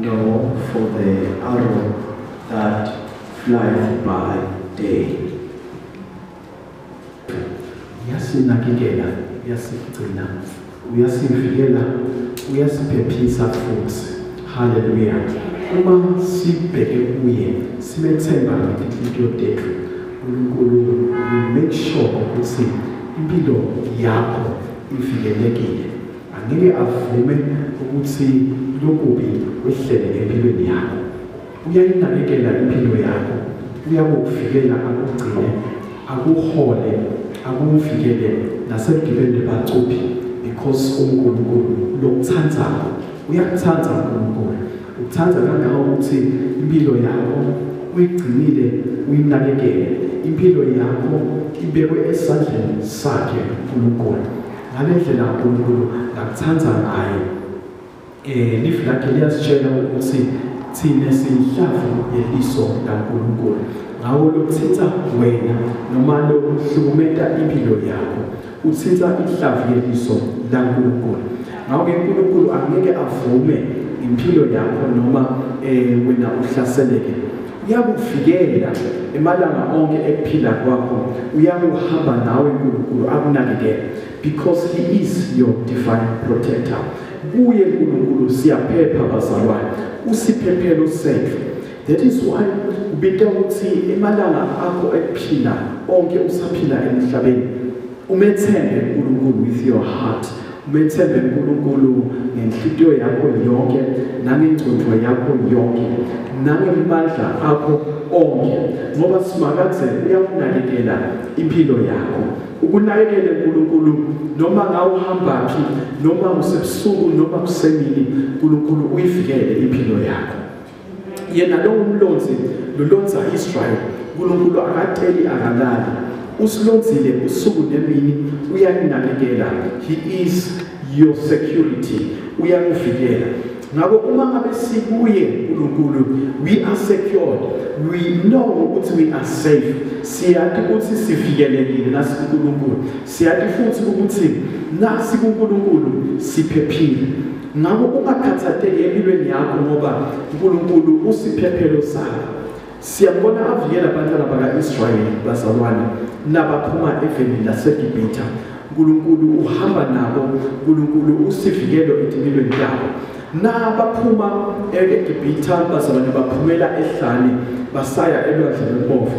No for the arrow that flies by day. Uyasinakekela, uyasigcina, uyasivikela, uyasiphephisa futhi. Haleluya. Uma sibheke kuye, simethemba ngenhliziyo yethu. uNkulunkulu make sure ukuthi impilo yakho ivikelekile. angeke avume ukuthi lokubi kwehlele empilweni yakho uyayinakekela impilo yakho uyakukuvikela akugcine akuhole akuvikele nasegibeni bacuphi because unkulunkulu lokuthandayo uyakuthanda unkulunkulu ukuthanda kangaka ukuthi impilo yakho uyigcinile uyinakekele impilo yakho ibekwe esandleni sakhe unkulunkulu ngale ndlela uNkulunkulu ngakuthanda ngayo eh live lakhe liyasitshela ukuthi thina siyihlavu yeliso laNkulunkulu ngawo lothitha wena noma lokuhlukumeta impilo yakho uthitha ihlavu yeliso laNkulunkulu ngawo-ke uNkulunkulu angeke avume impilo yakho noma eh wena uhlaseleke uyakuvikela emalanga onke ekuphila kwakho uyakuhamba nawe uNkulunkulu akunakekele because he is your divine protector kuye uNkulunkulu siyaphepha bazalwane usiphephelo sethu that is why ubita ukuthi emalanga akho ekuphila onke usaphila emhlabeni Umethembe uNkulunkulu with your heart. Umethembe uNkulunkulu ngenhliziyo yakho yonke, nangengcondvo yakho yonke, nangemandla akho onke. Ngoba simakadze uyakunakekela impilo yakho. Ukunakekele uNkulunkulu noma ngawuhamba phi, noma usebusuku noma kusemini, uNkulunkulu uyivikele impilo yakho. yena lowo mlonzi lulonza Israel uNkulunkulu akateli akalali usilonzile usuku nemini uyaninakekela he is your security uyakuvikela ngakho uma ngabe sikuye uNkulunkulu we are secured we know ukuthi we are safe siyathi ukuthi sivikelekile nasi uNkulunkulu siyathi futhi ukuthi nasi uNkulunkulu siphephile Ngakho ungakhathatheki empilweni yakho ngoba uNkulunkulu usiphephelo sakho. Siyabona avikela abantwana baka-Israyeli bazalwane nabaphuma eveni laseGibhitha. uNkulunkulu uhamba nabo, uNkulunkulu usivikelo empilweni yabo. Nabaphuma eGibhitha bazalwane baphumela ehlane basaya elwandle lobomvu.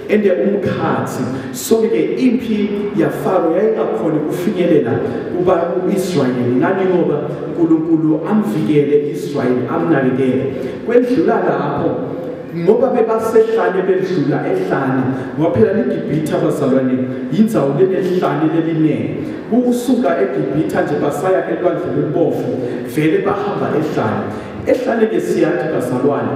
ende umkhathi sonke ke impi yafaro yayingakhona ukufinyelela kuba uIsrayeli ngani ngoba uNkulunkulu amvikele Israyeli amnakekele kwendlula lapho ngoba bebasehlane bedlula ehlane ngoba phela iGibhithe abazalwane yindzawo lenehlane leliningi kusuka eGibhithe nje basaya elwandle lwebovu vele bahamba ehlane ehlane ke siyathi bazalwane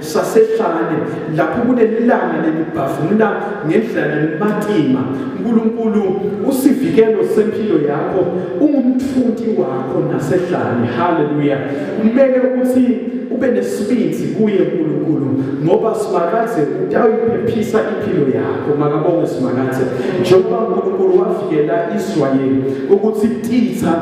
sasehlane lapho kunelanga lelibhavula ngendlela lelimatima nkulunkulu usivikelo sempilo yakho ungumthuthi wakho nasehlane haleluya kumele ukuthi ube nesibindi kuye nkulunkulu ngoba simakathe utawuyiphephisa impilo yakho makabonge simakathe njengoba unkulunkulu wavikela israyeli ukuthi titha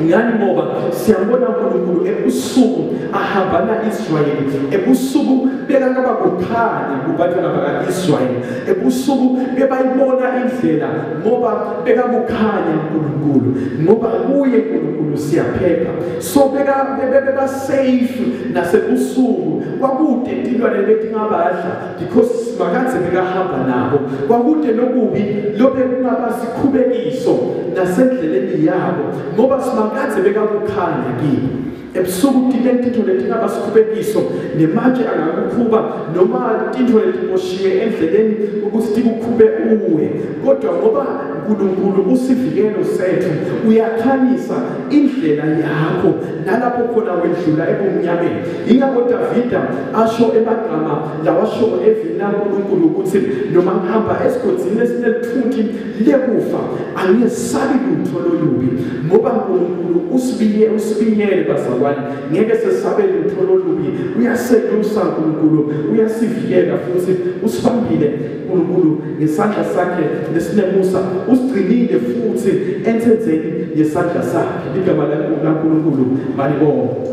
ngani ngoba siyambona uNkulunkulu ebusuku ahamba na-Israyeli ebusuku bekakaba kukhanya kubantwana baka-Israyeli ebusuku bebayibona indlela ngoba bekakukhanya uNkulunkulu ngoba kuye uNkulunkulu siyaphepha so bebasafe nasebusuku kwakude tilwane betingabadla because makadze bekahamba nabo kwakude lokubi lobe kungaba sikhubekiso nasendleleni yabo ngoba simakadze bekakukhanya kimi ebusuku tine tintfo letingaba sikhubekiso nematje angakukhuba noma tintfo letiboshiwe endleleni ukuthi tikukhube uwe kodwa ngoba uNkulunkulu usivikelo sethu uyakhanyisa indlela yakho nalapho khona wedlula ebumnyameni ingakho Davida asho emagama lawashoko evini laNkulunkulu ukuthi noma ngihamba esigodini esinelithuthi lekufa angiyesabi lutho lolubi ngoba Nkulunkulu usibiyele usibiyele bazalwane ngeke sesabe lutho lolubi uyaselusa Nkulunkulu uyasivikela futhi usibambile Nkulunkulu ngesandla sakhe lesinemusa usigcinile futhi ensenzeni yesandla sakhe igama laNkulunkulu malibonga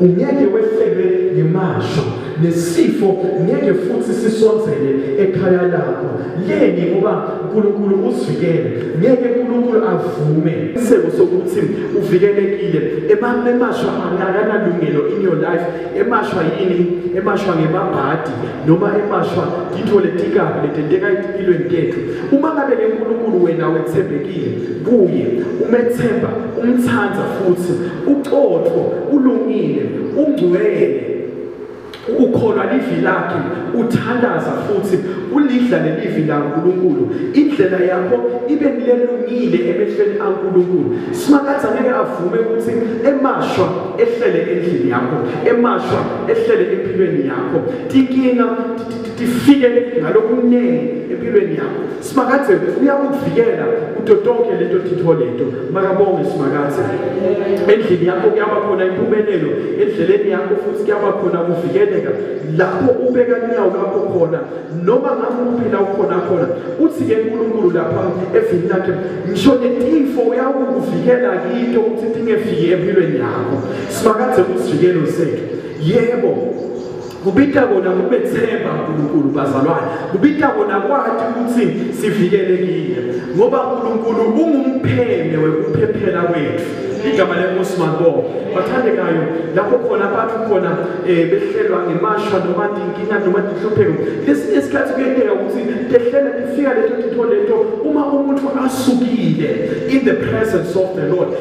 Ungeke wehlelwe ngemasho nesifo ngeke futhi sisondzele ekhaya lakho leni ngoba uNkulunkulu usivikele ngeke uNkulunkulu avume isebo sokuthi uvikelekile emashwa akanalungelo in your life emashwa yini emashwa ngemabhadi noma emashwa into letikabi letenteka empilweni tethu uma ngabe lenkulunkulu wena wethembekile kuye umethemba umthanda futhi uqotho ulungile ungcwele ukholwa livi lakhe uthandaza futhi ulidla lelivi laNkulunkulu indlela yakho ibe nilelungile emehlweni aNkulunkulu simakade angeke avume ukuthi emashwa ehlele endlini yakho emashwa ehlele empilweni yakho tinkinga tifike ngalokuningi empilweni yakho simakadze uyakuvikela kuto tonke leto tintfo leto makabonge simakadze endlini yakho kuyaba khona impumelelo endleleni yakho futhi kuyaba khona kuvikeleka lapho ubeka inyawo lakho khona noma ngakuphi la ukhona khona uthi-ke nkulunkulu lapha evini lakhe ngisho netifo uyakukuvikela kito ukuthi tingefiki empilweni yakho simakadze kusivikelo sethu yebo kubita kona kubethemba uNkulunkulu bazalwane kubita kona kwathi ukuthi sivikelekile ngoba uNkulunkulu ungumpheme wekuphephela kwethu igama lenkosi mabonga bathandekayo lapho khona abantu khona eh, behlelwa ngemashwa noma dinkinga noma dihlupheko lesinye isikhathi kuyenteka ukuthi tehlela lifika leto titho leto uma umuntu asukile in the presence of the lord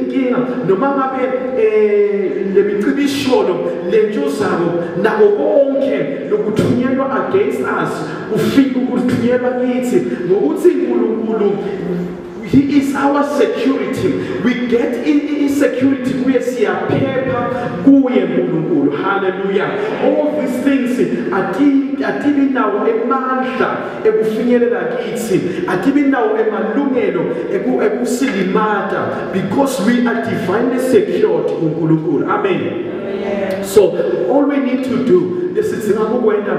inkinga noma ngabe um le micibisholo le ntshuzako nako konke lokuthunyelwa against us ufika ukuthunyelwa kithi ngokuthi nkulunkulu He is our security. We get in, in security kuye siyaphepha kuye nkulunkulu hallelujah all these things atibi nawo emandla ekufinyelela kithi akibi nawo emalungelo ekusilimata because we are divinely secured kuNkulunkulu amen so all we need to do lesidzinga kukwenta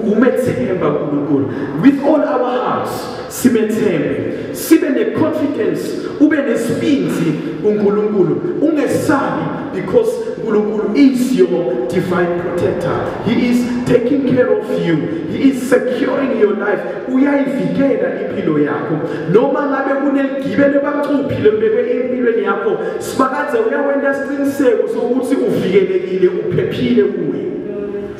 kumethemba uNkulunkulu with all our hearts simethembe sibe ne confidence ube nesibindi kuNkulunkulu ungesabi Because Nkulunkulu is your divine protector. He is taking care of you. He is securing your life. Uyayivikela impilo yakho. Noma ngabe kuneligibele bacuphile mbekwe empilweni yakho, sibakaze uyakwenta isiqiniseko sokuthi uvikelekile, uphephile kuye.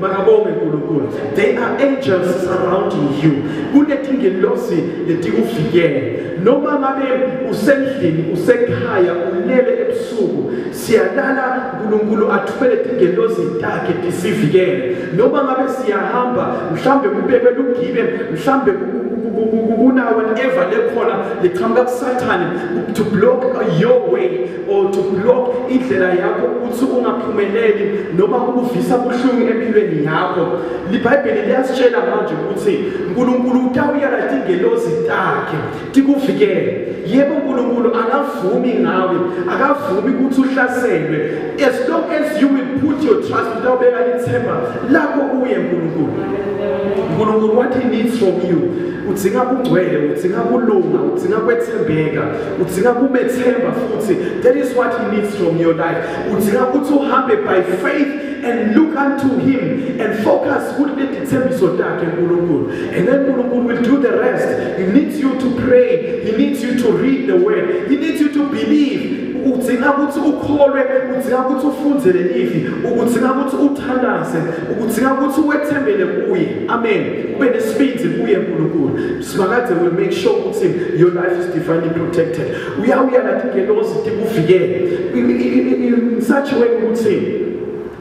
makabonge nkulunkulu they are angels surrounding you kunetingelosi letikuvikele noma ngabe usendlini usekhaya ulele ebusuku siyalala uNkulunkulu athumele tingelozi takhe tisivikele noma ngabe siyahamba mhlambe kubekwe lugibe mhlambe kunawe ever lekhona liqhamuka kusathane to block your way or to block indlela yakho ukuthi ungaphumeleli noma kukuvisa ubuhlungu empilweni yakho libhayibheli liyasitshela manje ukuthi unkulunkulu utawuyala tingelozi takhe tikuvikele yebo unkulunkulu akavumi ngawe akavumi ukuthi uhlaselwe as long as you will put your trust utawubeka ithemba lakho kuye nkulunkulu unkulunkulu what he needs from you udzinga kungcwele udzinga kulunga udzinga kwethembeka udzinga kumethemba futhi that is what he needs from your life udzinga ukuthi uhambe by faith and look unto him and focus kuthi letithembiso takhe nkulunkulu and then nkulunkulu will do the rest he needs you to pray he needs you to read the word he needs you to believe udzinga ukuthi ukholwe udzinga ukuthi ufunde lelivi udzinga ukuthi uthandaze udzinga ukuthi wethembele kuye amen ube nesibindi kuye nkulunkulu Simakadze will make sure ukuthi your life is divinely protected. Uyawuya nathi ngelozi tikuvikele. In such a way ukuthi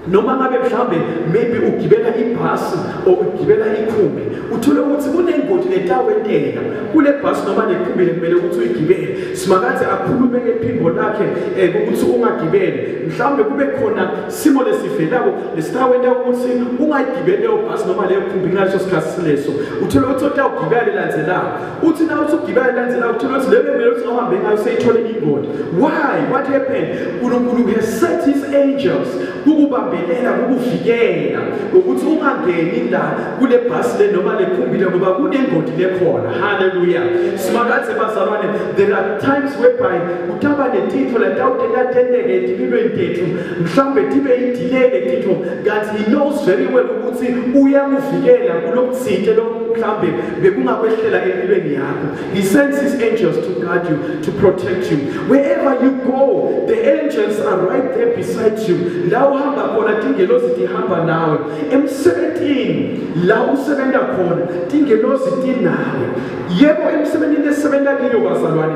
noma ngabe mhlawumbe maybe ugibela ibhasi or ugibela ikhumbi uthole ukuthi kunengodi letawenteka kule bhasi noma lekhumbi lekumele ukuthi uyigibele simakathi akhulume ngephimbo lakhe um ukuthi ungagibele mhlawumbe kube khona simo lesivelako lesitakwenza ukuthi ungayigibeli leyo bhasi noma leyo khumbi ngaleso sikhathi sileso uthole ukuthi otawugibela lelandzelako uthi na uthi ugibela lelandzelako uthole ukuthi leyo kumele ukuthi ohambe ngayo seyithole ingodi why what happened unkulunkulu has set his angels kukubambelela kukuvikela ukuthi ungangeni la kule bhasi le noma le khumbi le ngoba kunengodi lekhona haleluya simakadze bazalwane there are times whereby kutaba netitfo latawutentatenteke etimilweni tetfu mhlawumbe tibe yidelay letitho kanti he knows very well ukuthi uyakuvikela kulokuthinte mhlawumbe bekungakwehlela empilweni yakho he sends his angels to guard you to protect you wherever you go the angels are right there beside you la uhamba khona tingelozi tihamba nawe emsebenzini la usebenza khona tingelozi tinawe yebo emsebenzini esisebenza kiyo bazalwane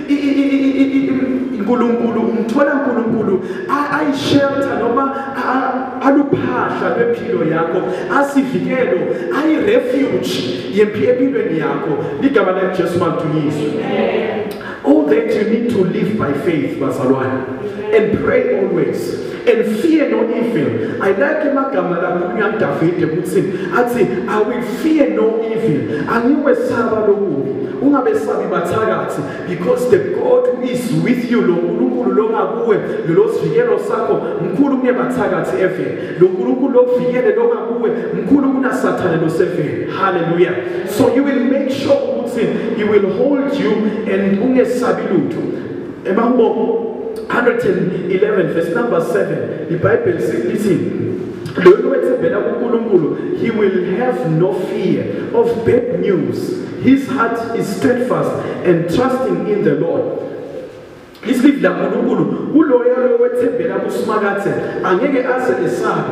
uNkulunkulu umthola uNkulunkulu ayishelter noma aluphahla lwempilo yakho asivikelo ayi refuge yempi empilweni yakho ligama la Jesu mantuyizwe all that you need to live by faith bazalwane and pray always and fear no evil i like amagama lakhulunywa udavide ukuthi athi i will fear no evil angikwesaba lokubi ungabesabi bathakathi because the god who is with you lo nkulunkulu longakuwe lolosivikelo sakho mkhulu kunebathakathi eveni lo nkulunkulu lokuvikele longakuwe mkhulu kunasathane loseveni halleluya so you will make sure ukuthi he will hold you and ungesabi lutho Emambobo 111 verse number 7 iBhayibheli sithi lolu wethembela kuNkulunkulu he will have no fear of bad news his heart is steadfast and trusting in the Lord isibili laNkulunkulu kuloyo lowethembela kusimakathe angeke aze esabe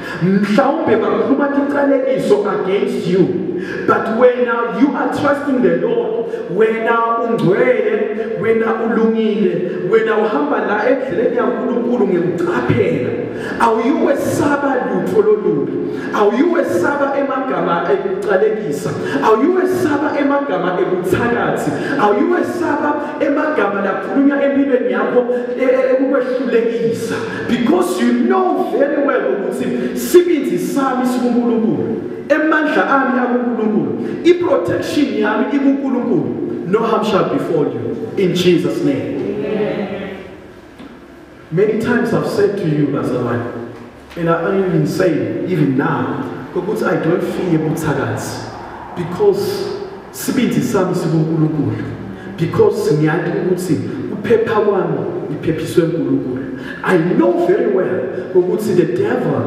mhlawumbe bakhuluma tiqalekiso against you but wena you are trusting the lord wena ungcwele wena ulungile wena uhamba la endleleni yankulunkulu ngekucaphela awuyukwesaba lutho lolubi awuyukwesaba emagama ekuqalekisa awuyukwesaba emagama ebuthakathi awuyukwesaba emagama lakhulunywa empilweni yakho e-, e-, ekukwehlulekisa Because you know very well ukuthi sibindi sami sikuNkulunkulu. Emandla ami akuNkulunkulu. I-protection yami ikuNkulunkulu. No harm shall befall you in Jesus name. Amen. Many times I've said to you bazalwane and I am even saying even now ukuthi I don't fear buthakathi because Sibindi sami sikuNkulunkulu because ngiyazi ukuthi ukuphepha kwami ngiphephiswe uNkulunkulu. I know very well ukuthi the devil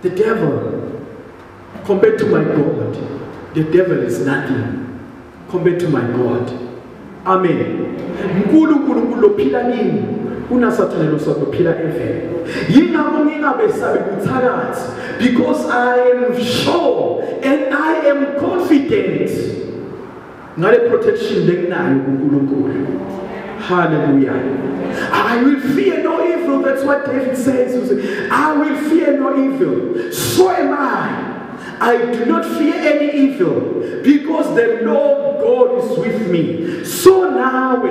the devil compared to my God the devil is nothing compared to my God. Amen. Mkulu uNkulunkulu lophila kimi unasathane losakuphila evele. Yingakho ngingabesabi kuthakathi because I am sure and I am confident ngale protection lenginayo kuNkulunkulu. Hallelujah. I will fear no evil. That's what David says. I will fear no evil. So am I. I do not fear any evil because the Lord God is with me. So now,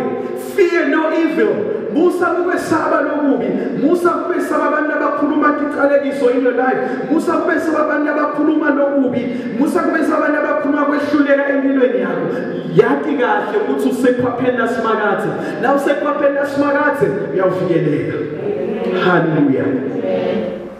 fear no evil. Musa kubesaba lokubi. Musa kubesaba abantu abakhuluma icalekiso in your life. Musa kubesaba abantu abakhuluma lokubi. Musa kubesaba abantu abakhuluma kwehluleka empilweni yakho. Yathi kahle ukuthi usekhwapheni lasimakathi. La usekhwapheni lasimakathi uyavikeleka. Hallelujah.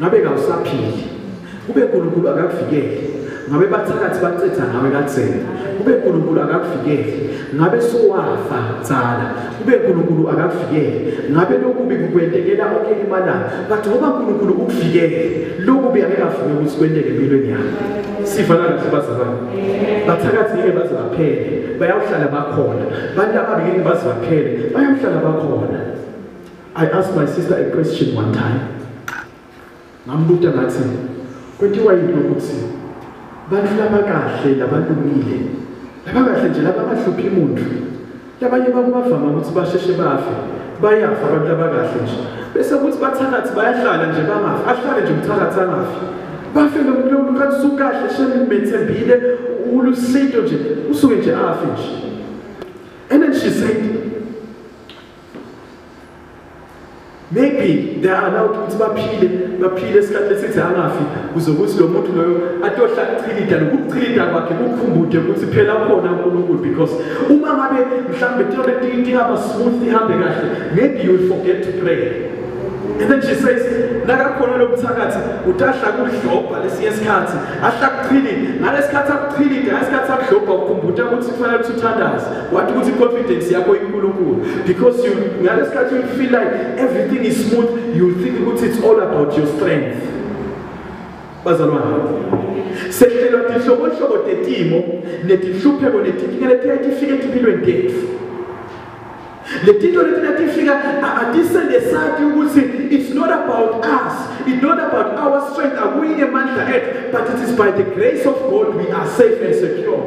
ngabe kawusaphili kube uNkulunkulu akakuvikele ngabe bathakathi bacetha ngawe katheni kube uNkulunkulu akakuvikele ngabe sowafa tsala kube uNkulunkulu akakuvikele ngabe lokubi kukwentekela onke imana but ngoba uNkulunkulu ukuvikele lokubi akekavumi ukuthi kwenteke empilweni yakho sifana kahle bazalwane bathakathi ngeke baze baphele bayawuhlala bakhona bantu ababi ngeke baze baphele bayawuhlala bakhona I asked my sister a question one time. Ngambuta ngathi kwentiwa yini ukuthi bantu labakahle labalungile labakahle nje labangahluphi muntu labanye bakubavama ukuthi basheshe bafe bayafa abantu labakahle nje bese kuthi bathakathi bayahlala nje bangafi ahlale nje umthakathi angafi bafe lomuntu kanti usukahle shemethembile ulusinto nje usuke nje afi nje and then she said maybe they are allowed ukuthi baphile baphile esikhathi esithi angafi kuze ukuthi lo muntu loyo atohla kuchilida nokuchilida kwakhe kukhumbude ukuthi phela khona uNkulunkulu because uma ngabe mhlambe tiyona tinti hamba smooth ihambe kahle maybe you will forget to pray and then she says nakakhona lo mthakathi utahla kudlobha lesinye isikhathi ahle akuphilile ngalesikhathi akuphilile ngalesikhathi akudlobha ukukhumbula ukuthi kufanele ukuthi uthandaze wathi ukuthi i-confidence yakho inkulunkulu because you ngalesikhathi you feel like everything is smooth you think ukuthi it's all about your strength bazalwane sehlelwa tinhlobonhlobo tetimo netinhlupheko netinkinga letiyatifika etimpilweni tetfu Letito letina tifika atisende sati ukuthi it's not about us, it's not about our strength, akuyi emandla ethu, but it is by the grace of God we are safe and secure.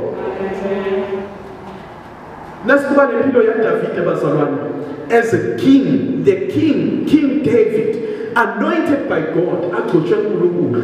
Nasikuba nempilo ya Davide bazalwane as a king, the king, King David, anointed by God, agcotshwe uNkulunkulu.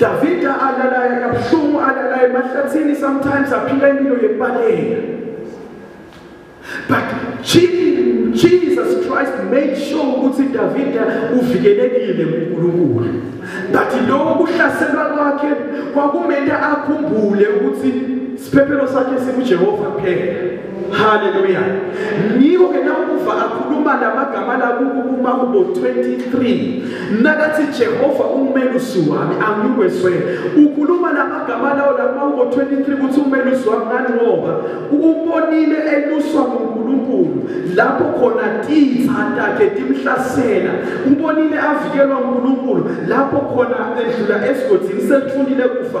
Davida alalaya kabuhlungu alalaya emahlathini sometimes aphila impilo yembaleka but Jesus Christ made sure ukuthi Davida uvikelekile kuNkulunkulu but lokho kuhlaselwa kwakhe kwakumele akhumbule ukuthi siphephelo sakhe sikuJehova kuphela Hallelujah. Ngiko ke nakuva akhuluma lamagama lakuku kuma kubo 23. Nakathi Jehova umelusi wami angikweswe. Ukhuluma lamagama lawo lapha kubo 23 ukuthi umelusi wami ngani ngoba ubonile eluswa nguNkulunkulu lapho khona titha takhe timhlasela. Ubonile avikelwa uNkulunkulu lapho khona edlula esigodini sethulile kufa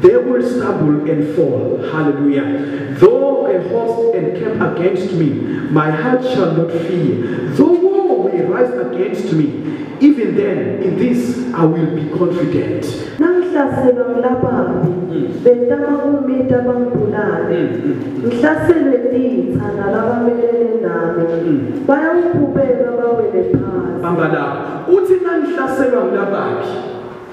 They will stumble and fall. Hallelujah. Though a host encamp against me, my heart shall not fear. Though war may rise against me, even then in this I will be confident. Nangihlaselwa ngilabambi, hmm. betama kumita bangibulale. Hmm, hmm. Ngihlaselwe titha nalabamelele nami. Bayawuphubeka bawele phansi. Bamba lapho. Uthi nangihlaselwa ngilabaphi?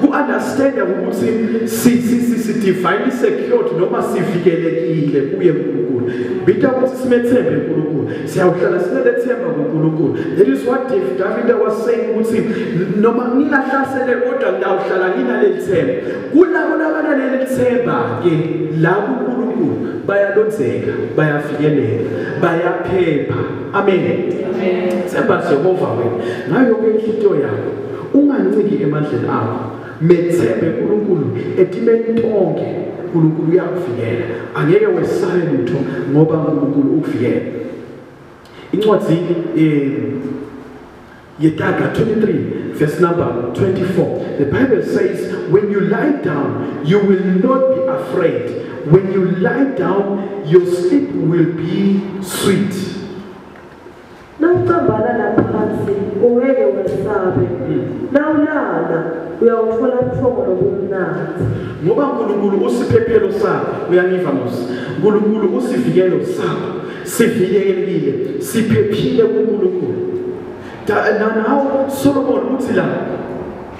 Ku-understanda ukuthi si-divine secured noma sivikelekile kuye nkulunkulu bita ukuthi simethembe nkulunkulu siyawuhlala sinelethemba kunkulunkulu that is what davida was saying ukuthi noma ngingahlasele kodwa ngiyawuhlala nginaleli themba kulabo labanaleli themba-ke la kunkulunkulu bayalonzeka bayavikeleka bayaphepha amen themba jehova wena ngayo yonke inhliziyo yakho Unganciki emandleni akho, methembe uNkulunkulu etimeni tonke. uNkulunkulu uyakuvikela, angeke wesabe lutho ngoba uNkulunkulu ukuvikela. Incwadi eh Yetaga 23 verse number 24 the bible says when you lie down you will not be afraid when you lie down your sleep will be sweet Nawucambana naphansi ungeke wesabe. Nawulala uyawuthola ubuthongo nobumnandi. Ngoba uNkulunkulu usiphephelo sakho, uyangiva Musa. uNkulunkulu usivikelo sakho. Sivikelekile, siphephile kuNkulunkulu. Nawo Solomon uthi la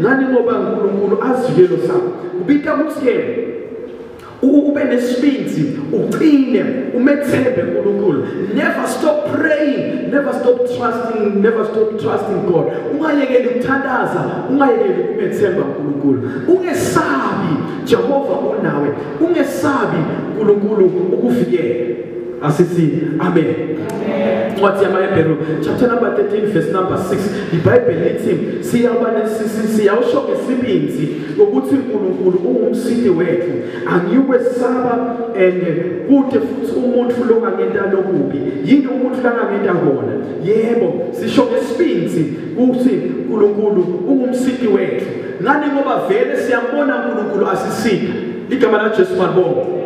ngani ngoba uNkulunkulu asivikelo sakho ubita ukuthi ube nesibindi uqine umethembe uNkulunkulu never stop praying never stop trusting never stop trusting God ungayekeli ukuthandaza ungayekeli umethemba uNkulunkulu ungesabi Jehova unawe ungesabi uNkulunkulu ukuvikela Asisi, amen. Incwadi yamaHebheru chapter number 13 verse number 6 iBhayibheli lithi siyaba siyawusho ngesibinzi ukuthi uNkulunkulu ungumsindi wethu angikwesaba and kude futhi umuntu lo ngangenta lokubi yini umuntu la ngangenta kona yebo sisho ngesibinzi ukuthi uNkulunkulu ungumsindi wethu ngani ngoba vele siyambona uNkulunkulu asisinde igama lajesu malibonga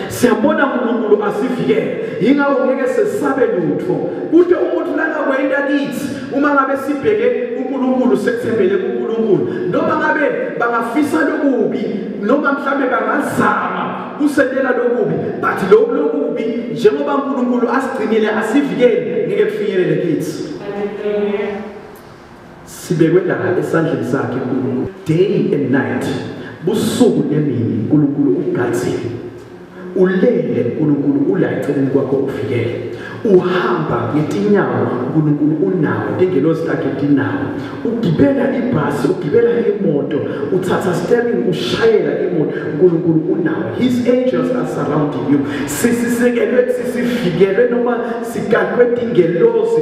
siyambona unkulunkulu asivikele yingakho ngeke sesabe lutho kude umuntu nakakwenda kithi uma ngabe sibheke unkulunkulu sethembele kunkulunkulu noma ngabe bangafisa lokubi noma mhlawumbe bangazama kusendela lokubi but lokhu lokubi njengoba unkulunkulu asigcinile asivikele ngeke kufinyelele kithi sibekwe la esandleni sakhe uNkulunkulu day and night busuku nemini uNkulunkulu ugazile ulele uNkulunkulu ula eceleni kwakho uvikele uhamba ngetinyawo uNkulunkulu unawo ingelosi lakhe dinawo ugibela ibhasi ugibela imoto uthatha steering ushayela imoto uNkulunkulu unawo his angels are surrounding you sisisekelwe sisifikelwe noma sigadwe ingelosi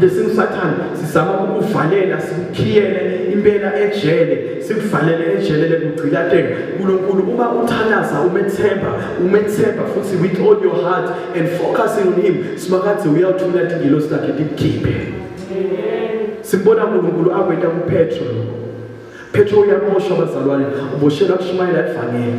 lesingusathane sizama ukuvalela simkhiyele impela ejele sikuvalele ejele lekugcilateka uNkulunkulu uma uthalaza umethemba umethemba futhi with all your heart and focusing on him simakathi uyawuthula ingilo sakhe likhiphe simbona uNkulunkulu akwenta kuPetro Petro uyamoshwa bazalwane uboshelwa kushumayela ivangeli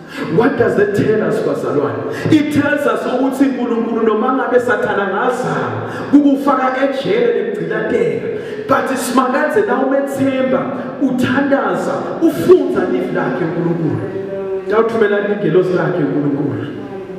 What does that tell us bazalwane? It tells us ukuthi uNkulunkulu noma ngabe sathana ngazama ukufaka ejele nemgcilateka but simakadze na umethemba uthandaza ufunza live lakhe uNkulunkulu. Dawuthumela ingelosi lakhe uNkulunkulu.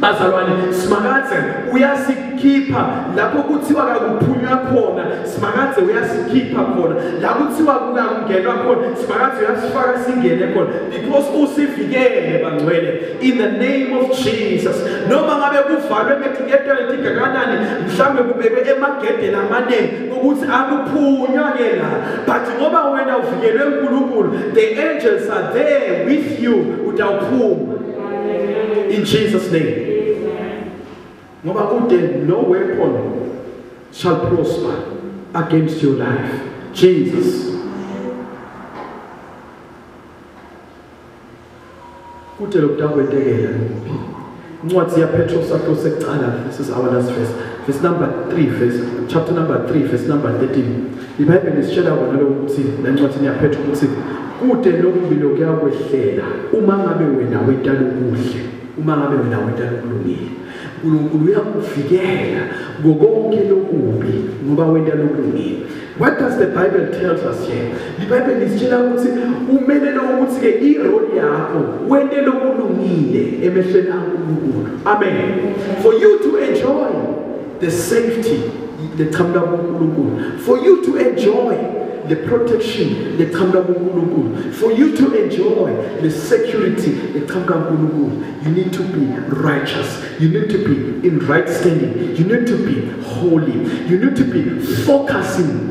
bazalwane simakadze uyasikhipha lapho kuthiwa kakuphunywa khona simakadze uyasikhipha khona la kuthiwa kungakungenwa khona simakadze uyasifaka singene khona because usivikele bangcwele in the name of jesus noma ngabe kuvalwe ngetiketwa letigakanani mhlawumbe kubekwe emagedeni amaningi ukuthi akuphunywa ke la but ngoba wena uvikelwe nkulunkulu the angels are there with you utawuphuma In Jesus name. Ngoba kude no weapon shall prosper against your life. Jesus. Kude lokudakwentekela ngoba incwadi yapetros ahlose kuqala this is our last verse verse number 3 verse chapter number 3 verse number 13 IBhayibheli lisitshela kona lokhu ukuthi nencwadini yaphetha ukuthi kude lokubi lokuyakwehlela uma ngabe wena wenta lokuhle uma ngabe wena wenta lokulungile uNkulunkulu uyakuvikela ngokonke lokubi ngoba wenta lokulungile what does the bible tells us here ibhayibheli lisitshela ukuthi umele lokuthi ke irole yakho wente lokulungile emehlweni kaNkulunkulu amen for you to enjoy the safety leqhamuka kuNkulunkulu for you to enjoy the protection leqhamuka kuNkulunkulu for you to enjoy the security leqhamuka kuNkulunkulu you need to be righteous you need to be in right standing you need to be holy you need to be focusing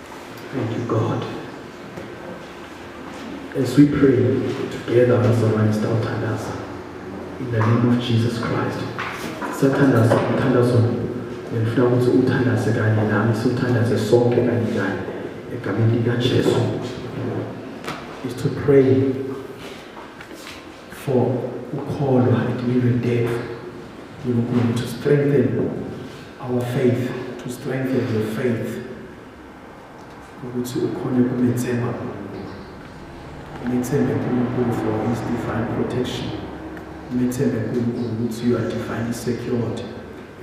Thank you, God. As we pray together, bazalwane sitawuthandaza. In the name of Jesus Christ. Sathandaza umthandazo ngifuna ukuthi uthandaze kanye nami siwuthandaze sonke kanye kanye egameni likaJesu. Is to pray for ukholwa ekuyilweni tethu uNkulunkulu to strengthen our faith to strengthen your faith ukuthi ukhone kumethemba umethembe uNkulunkulu for his divine protection umethembe uNkulunkulu ukuthi you are divinely secured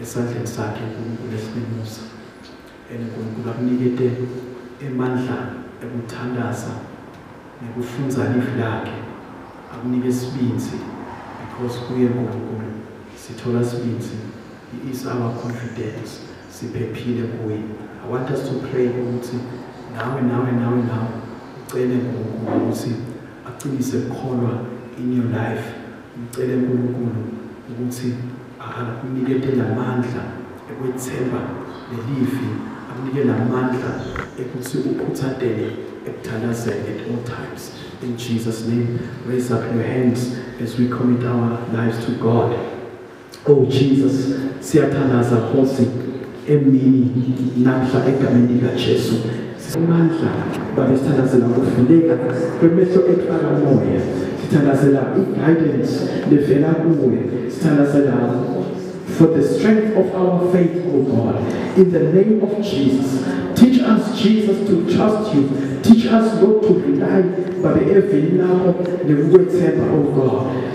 esandleni sakhe uNkulunkulu esibimusa And uNkulunkulu akunikete emandla ekuthandaza nekufunza livi lakhe akunike sibinzi because kuye uNkulunkulu sithola sibinzi he is our confidence siphephile kuye i want us to pray ukuthi nawe nawe nawe nawe ucele uNkulunkulu ukuthi aqinise ukukholwa in your life ngicele uNkulunkulu ukuthi akunikete namandla ekwethemba lelivi akunike namandla ekuthi ukhuthatele ekuthandazeni at all times in jesus name raise up your hands as we commit our lives to god oh jesus siyathandaza khosi emini namhla egameni likaJesu amandla babe sithandazela ukuvuleka kwemehlo ethwala moya sithandazela i-guidance levela kuwe sithandazela for the strength of our faith, O oh God. In the name of Jesus, teach us, Jesus, to trust you. Teach us, Lord, to rely by the every now, the word, O oh God.